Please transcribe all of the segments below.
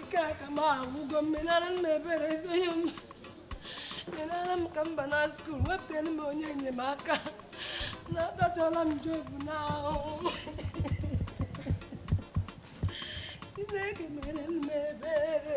ike aka m agwụgo m menara m ebere ezi onye m menara m ka m bana school wepụtara m onye enyemaka na atachọla m Job n'ahụhụ chineke mere m ebere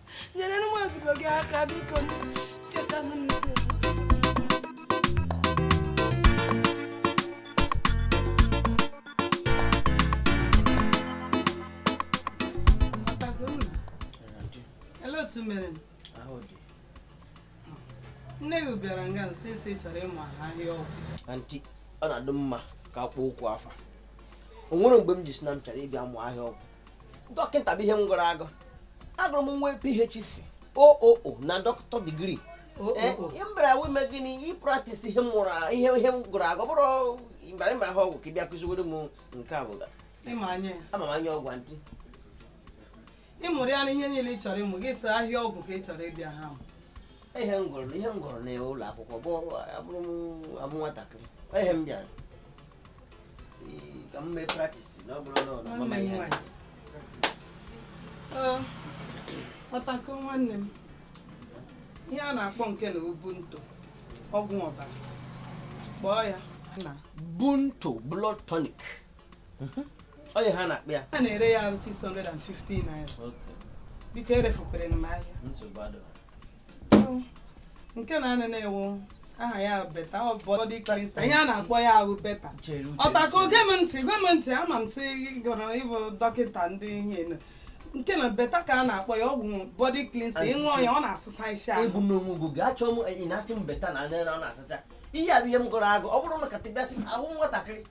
nyerenụ m odibo gị aka biko cheta m n'oge otu mere nne gị bịara nga m sị ị chọrọ ịmụ ahịa ọgwụ auntie ọ na-adị mma ka a kpọọ okwu afa o nwere mgbe m ji sị na m chọrọ ịbịa mụ ahịa ọgwụ dọkịta bụ ihe m gụrụ agụ agụrụ m nwee PhD OOO na doctor degree m bịara eh, wee mee gịnị ị practice ihe m mụrụ ihe ihe m gụrụ agụ ọ bụrọ m bịara ịmụ ahịa ọgwụ ka ị bịa kụziwere m nke a bụ na ama m anya ọgwụ auntie ị mụrụ ya na ihe niile ị chọrọ ịmụ gị sị ahịa ọgwụ ka ị chọrọ ịbịa ha ihe m gụrụ ihe m gụrụ na ụlọ akwụkwọ bụ abụrọ m amụ nwatakịrị ihe m bịara ka m mee practice na ọ bụrọ na ọ na-ama ihe ọtakọ nwanne m ihe a na-akpọ nke na wụ Bunto ọgwụ ọbara kpọọ ya na Bunto blood tonic mhm. ọ ihe a na-akpọ ya a na-ere ya 650 naira biko erefukwere m ahịa nke na gịnị wụ aha ya beta ọ bụ body cleanser ihe a na-akpọ ya wụ beta ọtakọ gee m ntị gee m ntị ama m sị ị gụrụ ịbụ dọkịta ndị ihe nụ. nke na beta ka a na-akpọ ya ọgwụ body cleanser ị ṅụọ ya ọ na-asụsa isi ahụ ebu n'onwe gị oge achọọ m ị na-asị m beta na anya na ọ na-asacha ihe a bụ ihe m gụrụ agụ ọ bụrụ na katịbịasị ahụ nwatakịrị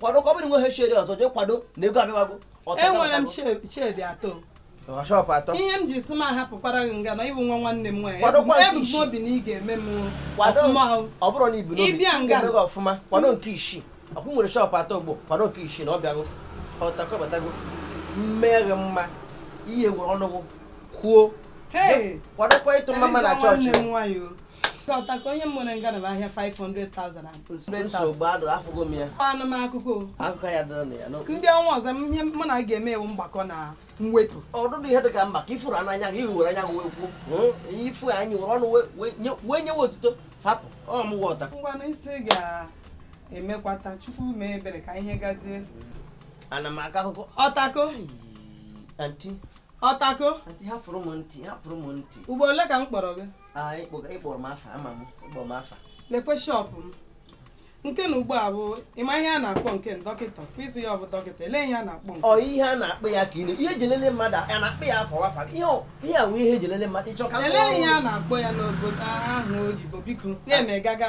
kwado ka ọ bụrụ nweghị shedi ọzọ jee kwado na ego abịawago enwere m shedi atọ ihe m ji sị m hapụkwara gị nga na ị bụ nwa nwanne m nwaanyị ebu m n'obi na ị ga-eme m ọfụma ọ bụrụ na i bu n'obi m ga-eme gị ọfụma kwado nke isii ọkwa i nwere shop atọ ugbu a kwado nke isii na ọ bịago ọtakọ batago mmeghe mma i were ọnụ gị kwuo kwadokwa ịtụ mmamma na chọọchị ọtakọ ihe m nwere nga na wụ ahịa 500,000 nsogbu adịrọ afụgo m ya anụ m akụkọ akụkọ ya dịrị na ya n'okwu ndị ọnwa ọzọ m- ihe mụ na gị ga-eme wụ mgbakọ na mwepụ ọdụdụ ihe dị ka mba ka ị fụrụ n'anya gị ihu were anya gị wee kwuo Hmm? ihe ị fụ n'anya were ọnụ wee- wee nye- wee nyewe otuto hapụ ọ mụ wụ ọta ngwanụ ị sị ị ga-emekwata chukwu mee ebere ka ihe gazie ana m akọ akụkọ ọtakọ auntie ọtakọ auntie hafụrụ m ntị hafụrụ m ntị ugboro ole ka m kpọrọ gị ịkpọrọ m afa ama m ịkpọrọ m afa lekwe shọpụ m nke na ugbu a bụ ịma ihe a na-akpọ nke ndị dọkịta kpịsị ya ọ bụ dọkịta ele ihe a na-akpọ ọ ihe a na-akpọ ya ka ị ihe e ji elele mmadụ a na-akpọ ya afọ wafa ihe a wụ ihe e ji elele mmadụ ịchọ ka ele ihe a na-akpọ ya n'obodo ahụ oyibo biko na-eme gaga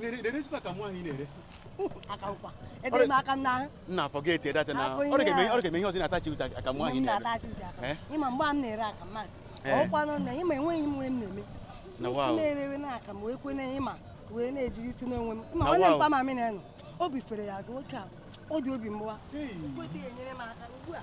na-erezikwa ka nwaanyị na-ere akawụkwa edere m aka m n'ahụ nna forget it edacha na Afọ ihe ọ ga-eme a. ọ ga-eme ihe ọzọ na-atachi ụta ka mgbe nwaanyị m na-ere na-atachi ụdị aka Eh? ịma mgbe a m na-ere aka m masị Eh. ọkwanụ na ịma enweghị m ihe m na-eme Na isi wow. na-erewe na aka m wee kwene ịma wee na-ejiri tụ n'onwe m ịma Na nwanne m wow. mpa m na-enụ obi fere ya azụ nwoke a ọ dị obi mgbawa Hey. kweta ya enyere m aka ugbu a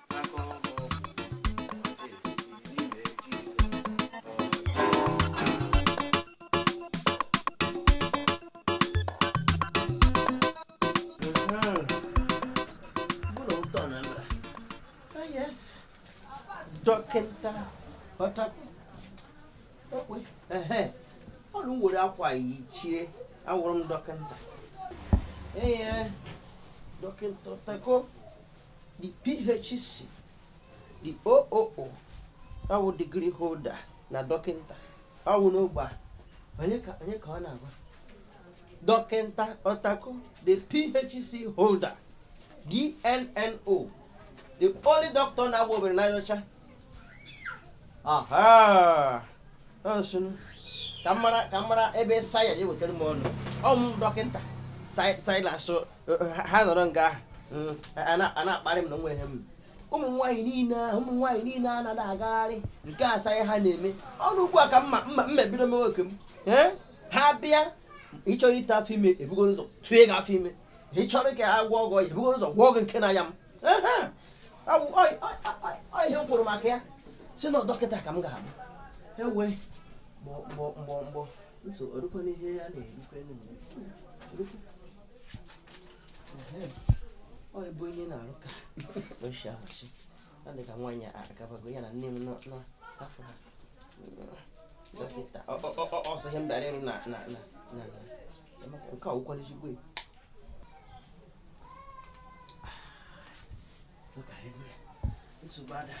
dọkịta ọnụ were akwa yichie awụrụ m dọkịta ee dọkịta ọtako the PhD, the OOO, ọ bụ degree holder na dọkịnta ọ bụ n'ogbe a onye ka ọ na-agwa dọkịnta ọtako the PhD holder DNNO the only doctor na-agba obere n'anya ọcha ọ sị nụ ka mara ebe saya ya wetara m ọnụ ọmụ dọkịta silas eh, eh, ha nọrọ nga ahụ mm, a na-akparị m na nwa ihe m ụmụ nwaanyị niile a na-agagharị nke a saya ha na-eme ọnụ ugbu a ka m mebido m nwoke m eh? ha bịa ị chọrọ ite afọ ime ebugoro ụzọ tụọ gị afọ ime ị chọrọ ka a gwọọ gị ebugoro ụzọ gwọọ gị nke na ya m ihe m kwuru maka ya sị na dọkịta ka m ga-abụ ewe mgbọ mgbọ mgbọ nso orukwa n'ihe ya na-erukwe ọ bụ onye na-arụ ka oshi ahụchi ọ dị ka nwaanyị agabago ya na nne m n'afọ ha dọkịta ọsọ ihe m bịara ịrụ na nke a wụkwanụ ezigbo nsogbu ada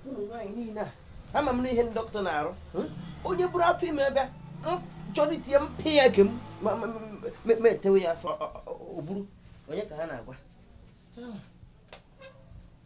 ụmụ nwaanyị niile a ama m n'ihe ndị dọkịta na-arụ onye buru afọ ime bịa chọrọ ite ya m pịa ya ke m ma etewe ya afọ o buru onye ka ha na-agwa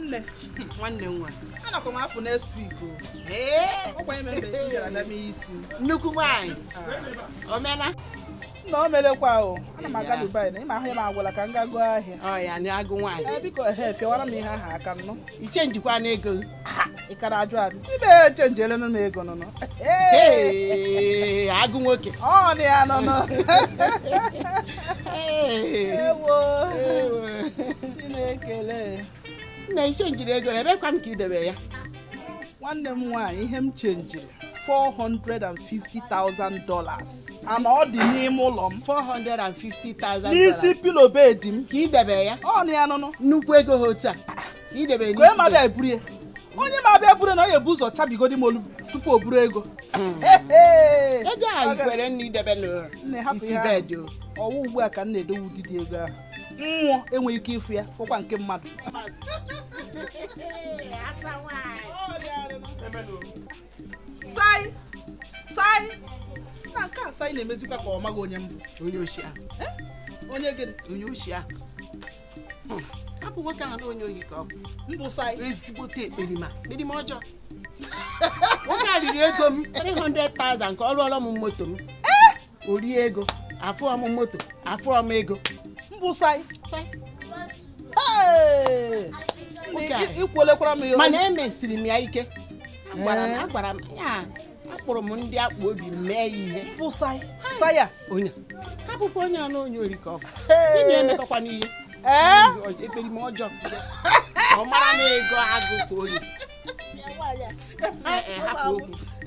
nne nwanne nwa anakwa m apụ next week o ọkwa ime mbe ị bịara bịa mee isi nnukwu nwaanyị omena na o merekwa o ana m aga dubai na ịma ahụ ya m agwala ka m ga goo ahịa ọ ya na agụ nwaanyị ee biko ehe fịawara m ihe ahụ aka nnụ ị chenjikwa n'ego ị kara ajụ ajụ ihe m chenjere nụ n'ego nụ nụ agụ nwoke ọ dị ya nụ nụ ewo chinekele nna ị chenjiri ego ya ebekwanụ ka idebe ya nwanne m nwaanyị ihe m chenjiri 450,000 dollars ana ọ dị n'ime ụlọ m 450,000 n'isi pilo bedi m ka idebe ya ọ dị ya nụ nụ nnukwu ego ha otu a onye ma bịa eburu ya onye ma bịa buru ya ọ ga-ebu ụzọ chabigodi m olu tupu o buru ego ego ahụ kwere nne idebe n'isi bedị ọ wụ ugbu a ka m na-edowe ụdịdị ego ahụ mmụọ enweghị ike ịfụ ya fọkwa nke mmadụ na-emezikwa ka ọ maghị onye m bụ onye oshi ahụ eh? onye gịnị onye oshi ahụ hmm. hapụ nwoke ahụ na onye ohi ka ọ bụ m bụ sai ezigbote ekperima ekperima ọjọọ nwoke a riri ego m 300,000 ka ọ rụọrọ m moto m o rie ego afụọ m moto afụọ m ego m bụ sai sai Hey! Nwoke a. ikwuolekwara m ya mana emesiri m ya ike agwara m agwara m ya akpọrọ m ndị akpụ obi mee ya ihe m bụ sai sai ya onye hapụkwa onye ahụ onye ori ka ọ bụ Onye emetọkwana ihe ee ekperima ọjọọ ọ mara na ego agụ ka oyi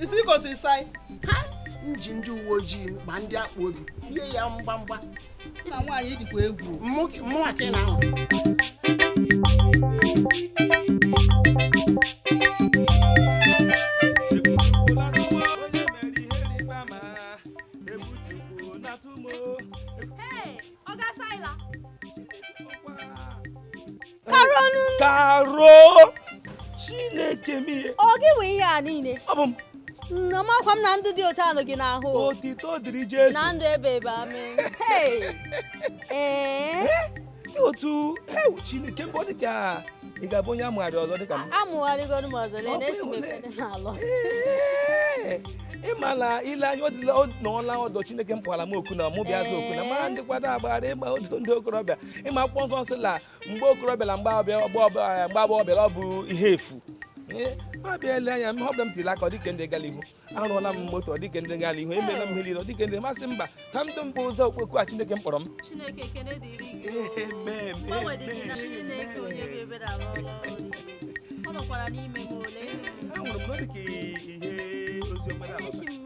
isi gosi sai m ji ndị uwe ojii ma ndị akpụ obi tie ya mgbamgba na nwaanyị dịkwa egwu mụnwa ka ị na-ahụ karo nụ karo chineke m ihe ọ gị nwe ihe a niile ọ bụ m nọmakwa m na ndụ dị otu a nụ gị na-ahụ o. otito dịrị jesu na ndụ ebeebe amen Hey! ee dị otu ewu chineke mgbe ọ dị ka ị ga-abụ onye amụgharị ọzọ dịka m amụgharịgoro m ọzọ lee na-esi m ekpere n'alụ Ee, ị ma na ile anya ọ dịla ọ nọọla ọdọ chineke m kpọkwara m oku na mụ bịa zaa oku na ma ndị kwado agbara ịgba otu ndị okorobịa ịma akwụkwọ nsọ sị na mgbe okorobịa na mgbe agbọghọbịa ọ bụ ihe efu ma bịa ele anya m họpụta m tiri aka ọ dịka ndị gara ihu arụọla m moto ọ dịka ndị gara ihu emeela m ihe niile ọ dịka ndị masị mba ka m dị mbụ zaa ọkpụkpọ oku a Chineke m kpọrọ m Chineke ekele dịrị gị o. Amen, Mgbanwe dị gị na amen. Chineke onye bụ ebere arụ ọrụ ọrụ niile. Ọ nọkwara n'ime m ole. Ahụrụ m na ọ dị ka ihe ozi ọma na-alụ. Echi m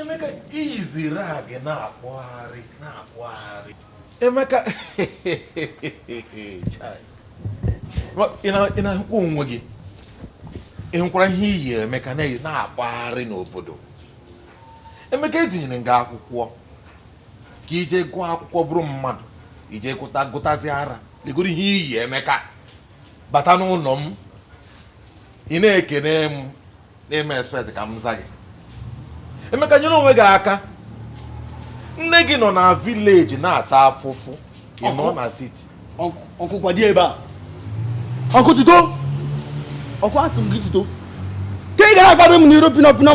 Emeka i yizi rag na-akpagharị na-akpagharị Emeka ị na-ahụkwa onwe gị ị hụkwara ihe i yi Emeka na-akpagharị n'obodo Emeka e tinyere gị akwụkwọ ka i je gụọ akwụkwọ bụrụ mmadụ i je gụtazi ara legodu ihe i yi Emeka bata n'ụlọ m ị na-ekene m na-eme expect ka m za gị Emeka nyere onwe gị aka nne gị nọ na village na-ata afụfụ ị nọ na city uncle kwado ebe a uncle tuto uncle atụ gị tuto ka ị ga na-akparị m n'iru pino pino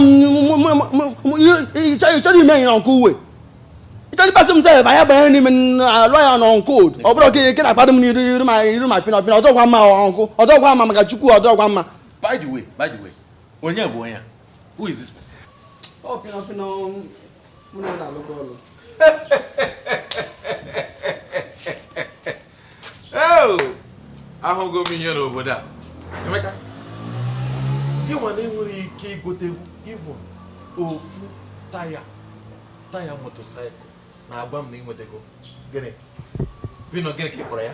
ị chọrọ ime ihe ọkụ uwe ị chọrọ ịkpasị m sef anya banyere n'ime alụ ya na uncle ọ bụrụ ka ị na-akparị m n'iru my pino pino ọ dịrọkwa mma uncle ọ dịrọkwa mma maka Chukwu ọ dịrọkwa mma By the way, by the way, onye bụ onye a? Who is this person? Ọ pino pino mụ na ya na-alụkọ ọlụ. ahụgo m ihe n'obodo a Emeka gị nwa na-enwerọ ike igote even ofu taya taya motorcycle na-agwa m na ị nwetago gịnị pino gịnị ka ị kpọrọ ya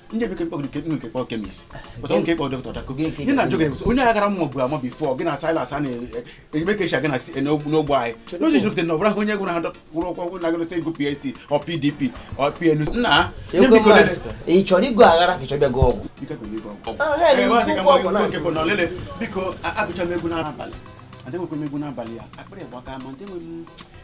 ndị bekee mkpọgide nke nke kpọọ chemist pụta nke kpọọ dọkịta dako gị na ajụ gị onye agara mma bụ ama before gị na Silas a na-eme ka e si aga n'ogbo anyị n'oji jupụta na ọ bụrụ ahụ onye gwụrụ ha kwụrụ ụkwụ na agụrụsị ego PAC or PDP or PNU nna ị chọrọ ịgụ aghara ka ị chọrọ ịbịa gụọ egwu biko agụcha m egwu n'abalị adịghịkwa m egwu n'abalị ya akpịrị gbaka ma ndị nwe m